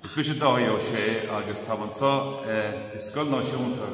Is mise Dáithí Ó Sé agus táim anseo i Scoil Náisiúnta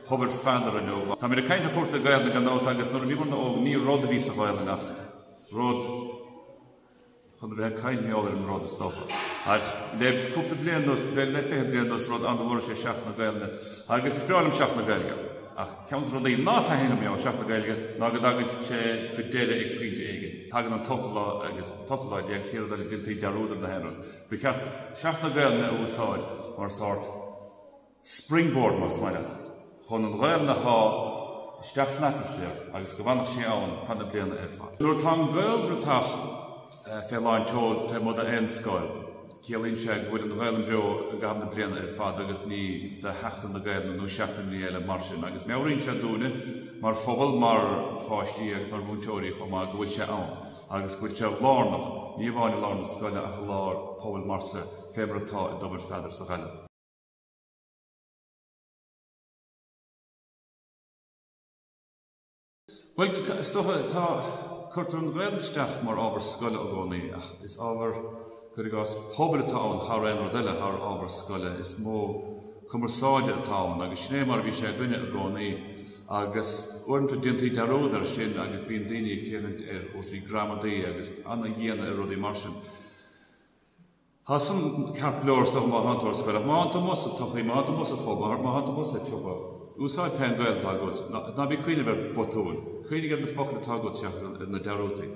Thobar Pheadair inniu. Tá mé ag caint ar chúrsaí Gaelainne gan dabht agus nuair a bhí muid óg ní rud a bhí sa Ghaelainn ach rud chun a bheith ag cnáimhseáil ar an rud is dócha. Ach le cúpla bliain nó le le fiche bliain nó rud an bhfuair sé Seachtain na Gaelainne agus is breá liom Seachtain na Gaeilge. Ach ceann de rudaí ná taitníonn liom fé Sheachtain na Gaeilge ná go dtagann sé go deireadh ag pointe éigin. Tagann an t-ochtú lá, an t-ochtú lá déag siar dul i dtí dearúd ar gach aon rud. Ba cheart Seachtain na Gaolainne a úsáid mar sórt springboard, más maith leat, chun an Ghaolainn a shá isteach san atmaisféar agus go bhfanfadh sé ann feadh na bliana ar fad. Nuair atá an Gaelbhratach fé lán tseoil taobh amuigh d'aon scoil, ciallaíonn sé go bhfuil an Ghaolainn beo i gcaitheamh na bliana ar fad agus ní de Sheachtain na Gaolainne nó seachtainní eile mar sin agus meabhraíonn sé dúinne mar phobal, mar pháistí agus mar mhúinteoirí chomh maith go bhfuil sé ann. agus go bhfuil sé lárnach, ní amháin i lár na scoile ach i lár pobail mar san fé mar atá i dTobar Pheadair sa Ghaillimh. Bhuel, is dócha, tá, cuirtear an Ghaolainn isteach mar ábhar scoile i gcónaí ach is ábhar. Cuir i gcás, pobail atá ann thar aon rud eile, thar ábhar scoile, is modh cumarsáide atá ann agus sin é mar a bhí sé againne i gcónaí agus uaireanta déantar dearúd air sin agus bíonn daoine ag féachaint ar chúrsaí gramadaí agus an-dian ar rudaí mar sin. Tá san ceart go leor don mhúinteoir scoile ach má fhanann tú amuigh sa tsochaí, má fhanann tú amuigh sa phub, má fhanann tú amuigh sa tsiopa, úsáid pé Gaolainn atá agat, ná bí ag cuimhneamh ar bhotúin, cuimhnigh ar na focail atá agat seachas ar na dearúdaí.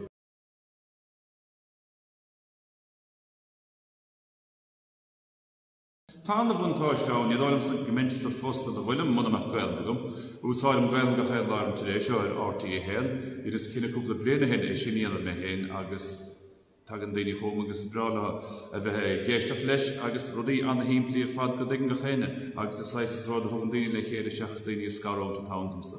Tá ana bhuntáiste ann, ní dóigh liomsa go mbeinnse sa phost ina bhfuilim muna mbeadh Gaolainn agam. Úsáidim Gaolainn gach aon lá ar an Today Show, ar RTÉ 1. Dheineas cinneadh cúpla bliain o shin é sin a dhéanamh mé féin agus tagann daoine chugam agus is breá leo a bheith ag éisteacht leis agus rudaí ana shimplí ar fad go dtuigeann gach éinne agus is saghas, is rud a thugann daoine le chéile seachas daoine a scarúint atá ann domsa.